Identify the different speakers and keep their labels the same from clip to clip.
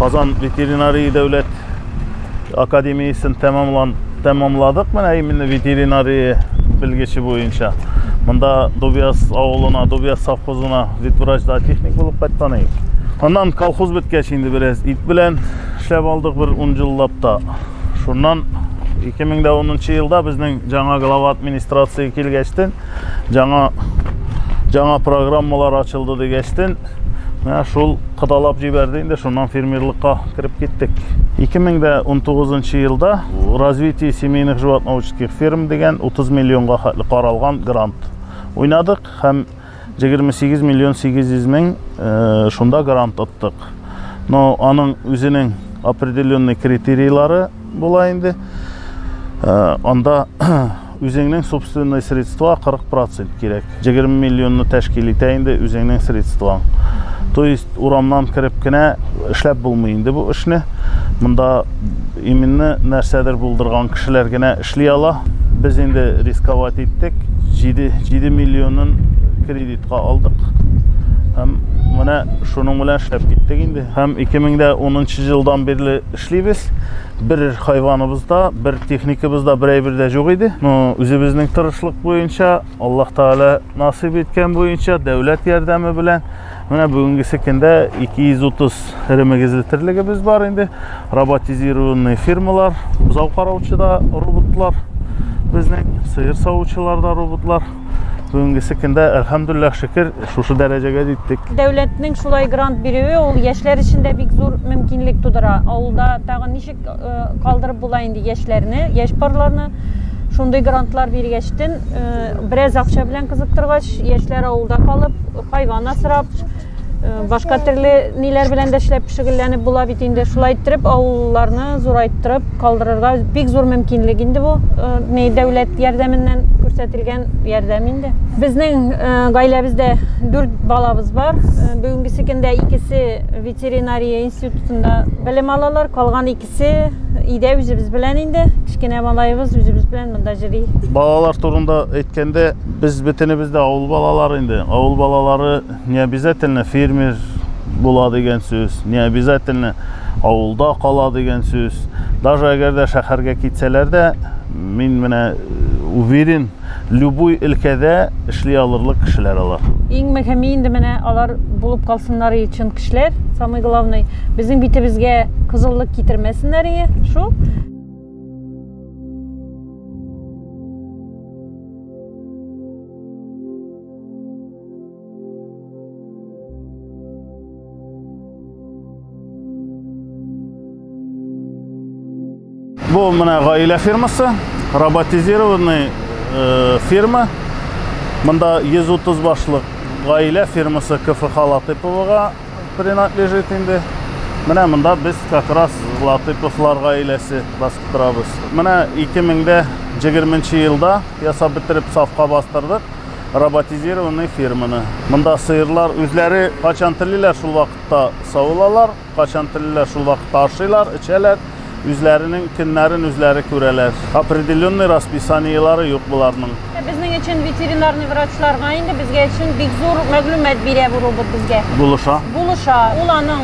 Speaker 1: Казан ветеринария дәүләт академиясен тәмамлан тәмамладык менә именно ветеринария белгече буенча. Монда Дубяс авылына, Дубяс совхозына ветврач зоотехник булып кайткан идек. Аннан колхоз беткәч инде бераз ит белән эшләп алдык бер 10 еллап та. Шуннан 2010 елда безнең жаңа глава администрация килгәчтен Жаңа жаңа программалар ачылды дигәчтен, менә шул кыталап җибәрде инде, шуннан фермерлыкка кереп киттек. 2019 елда развитие семейных животноводческих ферм дигән 30 миллионга хәтле каралган грант уйнадык һәм 28 миллион 800 мең э, шунда грант оттык. Но аның үзенең определенный критерийлары була инде. Э, анда Үзеңнең собственный средства 40 процент кирәк. 20 миллионны тәшкил итә инде үзеңнең средстваң. То есть урамнан кереп кенә эшләп булмый инде бу эшне. Монда именно нәрсәдер булдырган кешеләр генә эшли ала. Без инде рисковать иттек. 7, 7 миллионын кредитка алдык. Һәм менә шуның белән эшләп киттек инде. Һәм 2010 елдан бирле эшлибез. бер хайваныбыз да бер техникабыз да бер әйбер дә юк иде но үзебезнең тырышлык буенча аллаһ тәгалә насыйп иткән буенча дәүләт ярдәме белән менә бүгенгесе көндә 230 эремегезле терлегебез бар инде роботизированный фирмалар бозау караучы да роботлар безнең сыер савучылар да роботлар бүгенгесе көндә әлхәмдуллах шөкер шушы дәрәҗәгә җиттек дәүләтнең шулай
Speaker 2: грант бирүе ул яшьләр өчен дә бик зур мөмкинлек тудыра авылда тагын ничек э, калдырып була инде яшьләрне яшь парларны шундый грантлар биргәчтен э, бераз акча белән кызыктыргач яшьләр авылда калып хайван асрап башка төрле ниләр белән дә эшләп шөгыльләнеп була бит инде шулай иттереп авылларны зурайттырып калдырырга бик зур мөмкинлек инде бу ни дәүләт ярдәменнән күрсәтелгән ярдәм инде безнең гаиләбездә дүрт балабыз бар бүгенгесе көндә икесе ветеринария институтында белем алалар калган икесе өйдә үзебез белән инде кечкенә малаебыз үзебез белән монда йөри балалар турында
Speaker 1: әйткәндә без бөтенебез дә авыл балалары инде авыл балалары Не обязательно фермер була дигән сүз, не обязательно авылда кала дигән сүз. Даже әгәр дә шәһәргә китсәләр дә, мин менә э, уверен, любой өлкәдә эшли алырлык кешеләр алар. Иң мөһиме инде
Speaker 2: менә алар булып калсыннар и чын кешеләр, самый главный. Безнең битебезгә кызыллык китермәсеннәр и шул.
Speaker 1: Бу менә гаилә фирмасы, роботизированный э, фирма. Монда 130 башлык гаилә фирмасы КФХ Латыповага принадлежит инде. Менә монда без как раз Латыповлар гаиләсе басып торабыз. Менә 2020 елда ясап бетереп сафка бастырдык. роботизированный ферманы. Монда сыерлар үзләре качан телиләр, шул вакытта савылалар, качан телиләр, шул вакытта ашыйлар, эчәләр, үзләренең көннәрен үзләре күрәләр. Определенный расписаниелары юк буларның. Безнең өчен
Speaker 2: ветеринарный врачларга инде безгә өчен бик зур мәгълүмат бирә бу робот безгә. Булыша. Булыша.
Speaker 1: Ул аның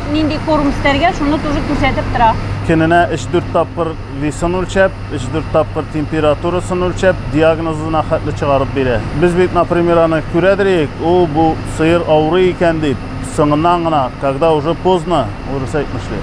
Speaker 2: Нинди корм истәргә, шуны тоже күрсәтеп
Speaker 1: тора. Көненә 3-4 тапкыр весын үлчәп, 3-4 тапкыр температурасын үлчәп, диагнозына хәтле чыгарып бирә. Без бит, например, аны күрәдриек, ул бу сыер авырый икән дип, соңыннан гына, когда уже поздно, урыс әйтмешли.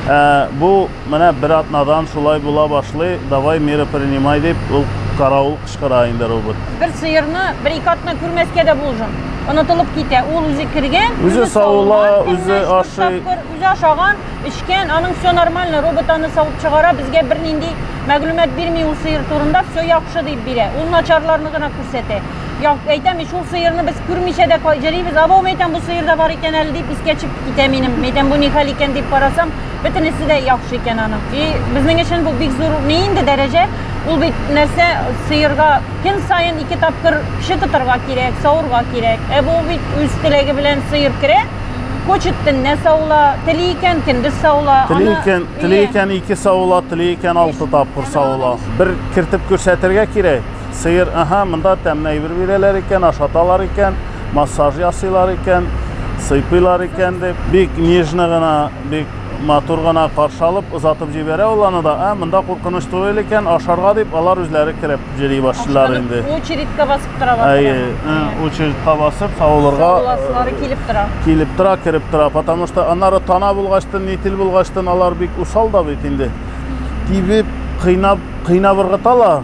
Speaker 1: Ә, бу Менә бер атнадан шулай була башлый, давай меры принимай, дип, ул каравыл кычкыра инде робот. Бер сыерны
Speaker 2: бер-ике атна күрмәскә дә булжым. Онытылып китә. Ул үзе кергән, үзе савыла,
Speaker 1: үзе ашый. Үзе ашаган,
Speaker 2: эчкән, аның все нормально, робот аны савып чыгара, безгә бернинди мәгълүмат бирми ул сыер турында, все яхшы дип бирә. Ул начарларны гына күрсәтә. Әйтәм, шул сыерны без күрмичә дә җөрибез, абау, мәйтәм, бу сыер да бар икән әле дип искә төшеп китә минем. Мәйтәм, бу ни хәл икән дип карасам, Бөтенесе дә яхшы икән аның. И безнең өчен бу бик зур ни инде дәрәҗә. Ул бит нәрсә сыерга көн саен ике тапкыр кеше тотарга кирәк, савырга кирәк. Ә бу бит үз теләге белән сыер керә, Кочет төнне саула, тели икән көндез саула. Тели икән, тели икән
Speaker 1: ике саула, тели икән алты тапкыр саула. Бер кертеп күрсәтергә кирәк. Сыер, аһа, монда тәмле әйбер бирәләр икән, ашаталар икән, массаж ясыйлар икән, сыйпыйлар икән, дип, бик нежно гына, бик матур гына каршы алып, озатып җибәрә ул аны да. Ә, монда куркыныч түгел икән, ашарга дип, алар үзләре кереп йөри башлыйлар инде. Ашканып,
Speaker 2: очередька басып тора башлый. Әйе, ә, очередька
Speaker 1: басып, савылырга. Савыласылары килеп
Speaker 2: тора. Килеп тора, кереп тора.
Speaker 1: Потому что аннары тана булгачтын, нитил булгачтын, алар бик усал да бит инде. Тибеп, кыйнап, кыйнап ыргыталар.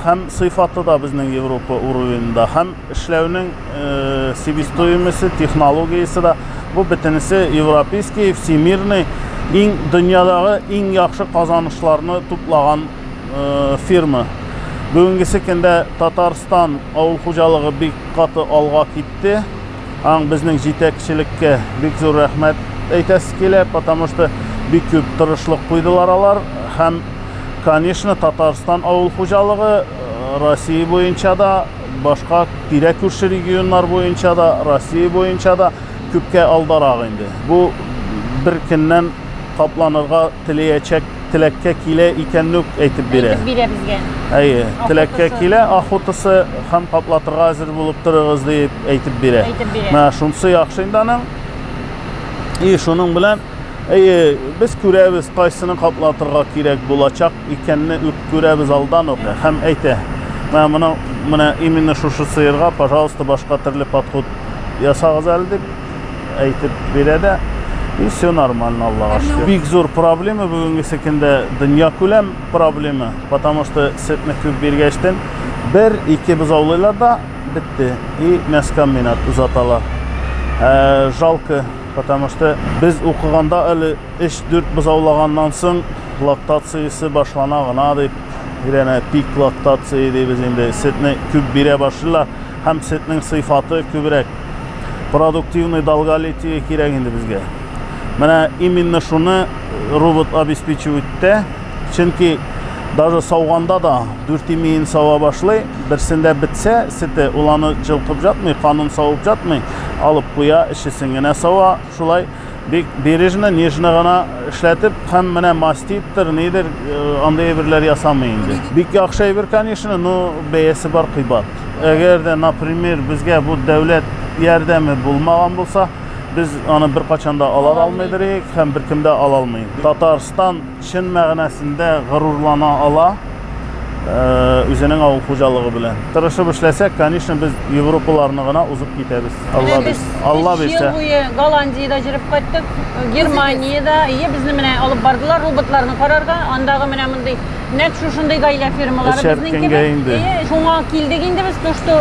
Speaker 1: Һәм сыйфаты да безнең Европа уровеньда, һәм эшләүнең себестоимосе, технологиясе дә, бу бөтенесе европейский, всемирный, иң дөньядагы иң яхшы казанышларны туплаган фирма. Бүгенгесе көндә Татарстан авыл хуҗалыгы бик каты алга китте. аң безнең җитәкчелеккә бик зур рәхмәт әйтәсе килә, потому что бик күп тырышлык куйдылар алар һәм, конечно, Татарстан авыл хуҗалыгы э, Россия буенча да, башка тирә күрше регионнар буенча да, Россия буенча да күпкә алдарак инде. Бу бер көннән капланырга теләячәк теләккә килә икәнне үк әйтеп бирә. Әйтеп бирә
Speaker 2: безгә. Әйе, теләккә
Speaker 1: килә, охотасы һәм каплатырга әзер булып торыгыз дип әйтеп бирә. Әйтеп бирә. Менә шунысы яхшы инде аның. И шуның белән әйе, без күрәбез, кайсыны каплатырга кирәк булачак икәнне үк күрәбез алдан ук һәм әйтә. Менә моны менә именно шушы сыерга, пожалуйста, башка төрле подход ясагыз әле дип әйтеп бирә дә. И все нормально, Аллаһ шөкер. Бик зур проблема бүгенгесе көндә дөнья күләм проблема, потому что сөтне күп биргәчтен бер, ике бозаулыйлар да бетте и мяскам минат узаталар. Ә, жалко, потому что без укыганда әле 3-4 бозаулаганнан соң лактациясе башлана гына дип, бирәнә пик лактация дибез инде, сөтне күп бирә башлыйлар. һәм сөтнең сыйфаты күбрәк. Продуктивный долголетие кирәк инде безгә. Менә именно шуны робот обеспечивать итә, чөнки даже сауганда да дүрт имеен сава башлый, берсендә бетсә сөте, ул аны җылкып жатмый, канын савып жатмый, алып куя, эчесен генә сава, шулай Бик бережно, нежно гына эшләтеп, һәм менә маститтер, нидер, э, андый әйберләр ясамый инде. Бик яхшы әйбер, конечно, но бәясе бар кыйбат. Әгәр дә, например, безгә бу дәүләт ярдәме булмаган булса, без аны беркайчан да ала алмыйдыр идек һәм беркем дә ала алмый. Татарстан чын мәгънәсендә горурлана ала үзенең авыл хуҗалыгы белән. Тырышып эшләсәк, конечно, без европаларны гына узып китәбез. Алла без Алла бирсә. Ел буе Голландиядә
Speaker 2: җөреп кайттык, Германиядә. Ие, безне менә алып бардылар роботларны карарга. Андагы менә мондый нәкъ шушындый гаилә фермалары безнең кебек. Ие, шуңа килдек инде без, то что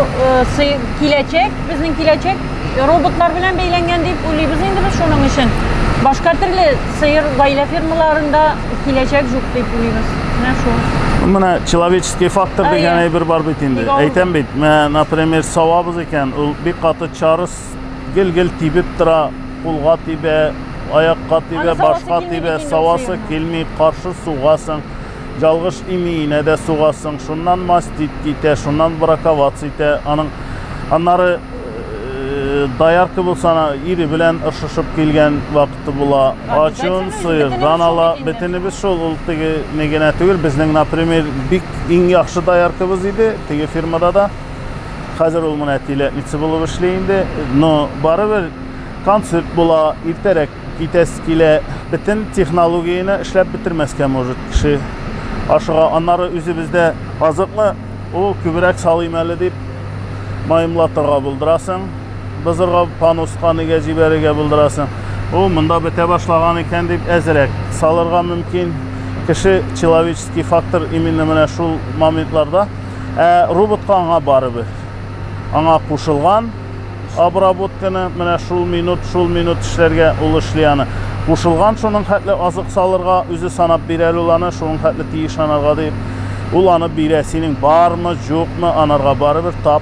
Speaker 2: э, киләчәк, безнең киләчәк роботлар белән бәйләнгән дип уйлыйбыз инде без шуның өчен. Башка төрле Сыер гаилә фермаларында киләчәк жук дип уйлыйбыз. Менә шул. Менә
Speaker 1: человеческий фактор Ә, дигән иә. әйбер бар бит инде. Бик авыр. Әйтәм бит, менә, например, савабыз икән, ул бик каты чарыс, гел-гел тибеп тора, кулга тибә, аякка Аны тибә, савасы башка килми тибә, бит инде савасы сыерның. килми, каршы сугасың. Ялгыш имиенә дә сугасың. Шуннан мастит китә, шуннан браковац итә. Аның аннары э, доярка булса, ана ире белән ышышып килгән вакыт итте була. Ачуын сыердан ала. Бөтенебез шул, ул теге не генә түгел. Безнең, например, бик иң яхшы дояркыбыз иде, теге фирмада да. Хәзер ул менә тиләтница булып эшли инде. Но барыбер концерт була, иртәрәк китәсе килә. Бөтен технологияне эшләп бетермәскә может кеше. Ашыга, аннары үзебездә азыкны, ул күбрәк салыйм әле дип, маемлатырга булдырасың. бозырга пануска нигә җибәрергә булдырасың ул монда бетә башлаган икән дип әзрәк салырга мөмкин кеше человеческий фактор именно менә шул моментларда ә роботка аңа барыбер аңа кушылган обработканы менә шул минут шул минут эшләргә ул эшли аны кушылган шуның хәтле азык салырга үзе санап бирә ул аны шуның хәтле тиеш анарга дип ул аны бирә синең бармы юкмы анарга барыбер тап